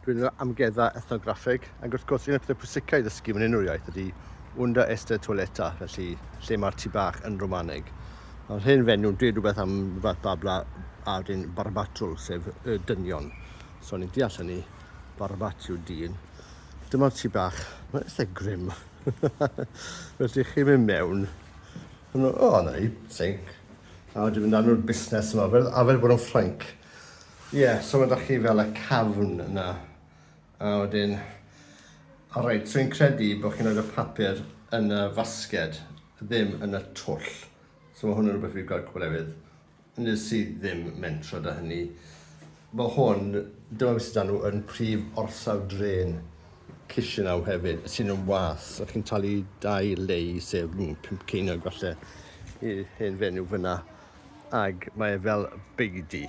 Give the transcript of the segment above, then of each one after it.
Dwi'n meddwl amgueddfa ethnograffeg, ac wrth gwrs un o'r pethau pwysicau i ddysgu mewn unrhyw iaith ydy unda esta toileta, felly lle mae'r tu bach yn Romaneg. Mae'r hen fenyw yn dweud rhywbeth am fath babla a wedyn barbatwl, sef y dynion. So ni'n deall hynny, barbat yw dyn. Dyma'r tu bach, mae'n eitha grim. felly chi'n mynd mewn, o, oh, na ni, sink. A wedyn mynd â nhw'r busnes yma, fel arfer bod yn ffrainc. Ie, so mae 'da chi fel y cafn yna. A wedyn... O reit, so fi'n credu bod chi'n rhoi'r papur yn y fasged, ddim yn y twll. So mae hwn yn rhywbeth fi wedi gweld cwbl efydd. Nes i ddim mentro da hynny. Mae hwn, dyma beth sydd â nhw yn prif orsaf dren Chisinau hefyd, sy'n yn was, a chi'n talu dau lei, sef mm, pump ceiniog falle, i'r hen fenyw fyna. Ac mae e fel beidi.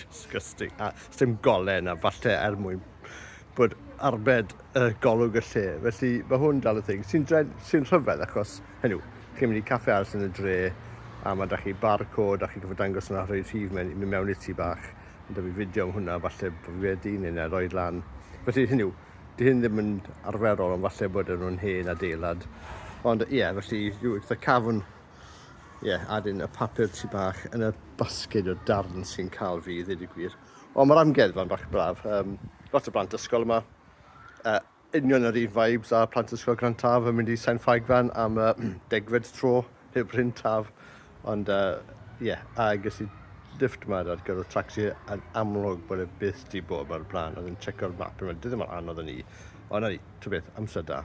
Disgusting. A sdim golen a falle er mwyn bod arbed y golwg y lle. Felly mae hwn dal y thing sy'n sy rhyfedd achos hynny yw, chi'n mynd i caffe arall yn y dre a mae da chi barcod a chi'n gofod dangos yna rhoi rhif mewn, mynd mewn i ti bach. Ond da fi fideo am hwnna, falle bod fi wedi neu na roed lan. Felly hynny yw, di hyn ddim yn arferol ond falle bod nhw'n hen adeilad. Ond ie, yeah, felly, the cafn ie, yeah, adyn y papur tu bach yn y basged o darn sy'n cael fi, ddweud y gwir. Ond mae'r amgueddfa'n bach braf. Um, lot o blant ysgol yma. Uh, union yr un vibes a plant ysgol Grand Taf yn mynd i Sain Ffagfan am uh, degfed tro heb Bryn Taf. Ond, ie, uh, yeah, a ges i lift yma ar gyfer y taxi yn amlwg bod e byth di bod mae'r blaen. Oedd yn checko'r map yn mynd, ddim yn anodd yn ni. Ond ni, tu beth, amser da.